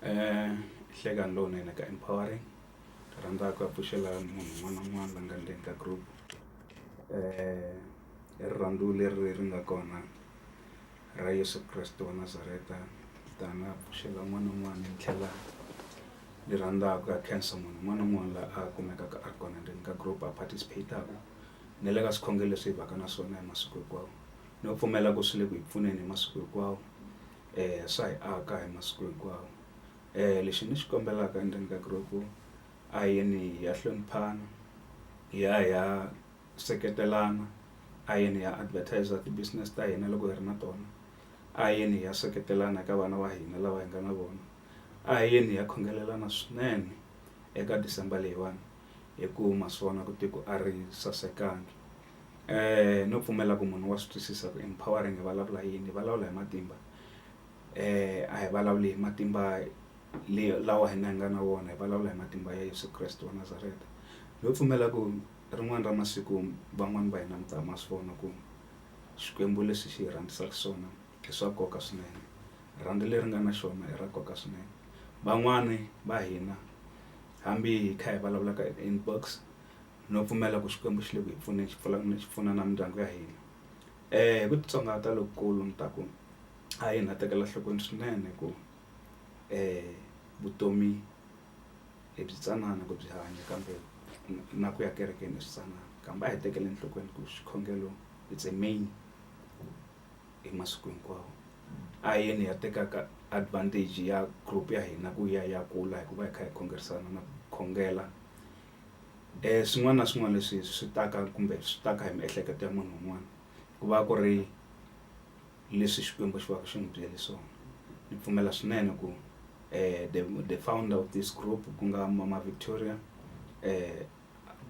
um hlekani lowunene ka empowering ni rhandza ku appreciate munhu un'wana na un'wana la nga ndzeni ka group um hi rirhandzu leri ri nga kona ra yesu kreste wa nazareta tani appreciate un'wana na un'wana ni tlhela ni rhandzaka ku ya khensa munhu un'wana na un'wana la a kumekaka a ri kona ndzeni ka group a participate-aka ni le ka swikhongelo leswi hi vaka na swona hi masiku hinkwawo Ni nga pfumela ku swi le ku hi pfuneni hi masiku hinkwawo swa hi aka hi masiku hinkwawo lexi ni xi kombelaka endzeni ka group a hi yeni hi ya hloniphana hi ya hi ya seketelana a hi yeni hi ya advertiser ti business ta hina loko hi ri na tona a hi yeni hi ya seketelana eka vana va hina lava hi nga na vona a hi yeni hi ya khongelelana swinene eka December leyiwani hi ku ma swi vona ku tiko a ri sasekanga. Eh, no pfumela ku munhu wa swi twisisa ku empowering hi vulavula yini hi vulavula hi matimba eh a hi vulavuli hi matimba leyi lawa hina hi nga na wona hi vulavula hi matimba ya Yesu Kreste wa Nazareta no pfumela ku rin'wana ra masiku van'wani va hina mi ta ma swi vona ku xikwembu lexi xi hi rhandzisaka swona i swa nkoka swinene rhandzu leri nga na xona i ra nkoka swinene van'wani va hina hambi hi kha hi vulavula ka inbox no pfumela ku Xikwembu xi le ku hi pfuneni xi pfula ni xi pfuna na mindyangu ya hina eh hi ku titsongahata lokukulu ni ta ku a hi na tekela nhlokweni swinene ku eh vutomi hi byi tsanana ku byi hanya kambe na ku ya kerekeni hi swi tsanana kambe a hi tekeli enhlokweni ku xikhongelo it's a main hi masiku hinkwawo a hi yeni hi ya tekaka advantage ya group ya hina ku ya ya kula hikuva hi kha hi khongerisana na ku khongela. swin'wana na swin'wana leswi swi taka kumbe swi taka hi miehleketo ya munhu un'wana ku va ku ri leswi Xikwembu xi va xi n'wi byele swona ni pfumela swinene ku the the founder of this group ku nga mama Victoria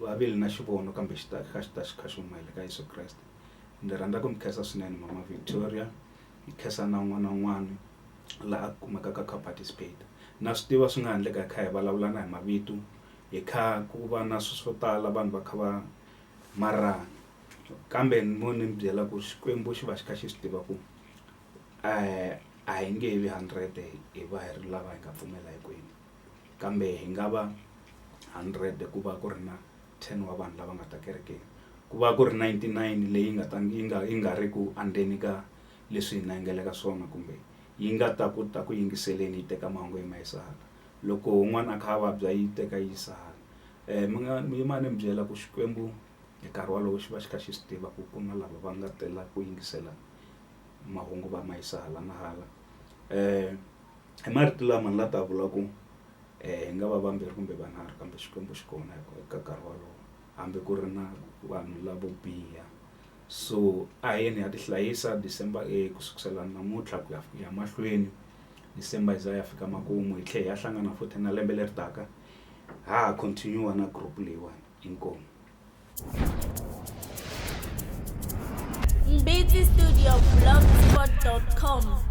va ve na xivono kambe xi ta kha xi ta xi kha xi huma hi le ka Yeso Kreste ni rhandza ku mi khensa swinene mama Victoria ni khensa na un'wana na un'wana la a kumekaka a kha a participate na swi tiva swi nga ha ndleka hi kha hi vulavulana hi mavito. hi kha ku va na swilo swo tala vanhu va kha va marhana kambe ni mo ni mi byela ku xikwembu xi va xi kha xi swi tiva ku a hi nge vi hundred hi va hi ri lava hi nga pfumela hinkwenu kambe hi nga va hundred ku va ku ri na ten wa vanhu lava nga ta kerekeni ku va ku ri ninety nine leyi nga ta yi nga yi nga ri ku andzeni ka leswi hina hi nga le ka swona kumbe yi nga ta ku ta ku yingiseleni yi teka mahungu yi ma yisa hala. loko un'wana a kha a vabya yi teka yi yisa hala mi nga mi yima ni mi byela ku Xikwembu hi nkarhi wolowo xi va xi kha xi swi tiva ku ku na lava va nga tela ku yingisela mahungu va ma yisa hala na hala i marito lama ni la ta vula ku hi nga va vambirhi kumbe vanharhu kambe Xikwembu xi kona hi ku eka nkarhi wolowo hambi ku ri na vanhu lavo biha so a hi yeni hi ya ti hlayisa December ku sukusela namuntlha ku ya ku ya mahlweni. December yi za ya fika makumu hi tlhe hi ya hlangana futhi na lembe leri taka ha ha continue na group leyiwani inkomu Mbiti Studio Blogspot.com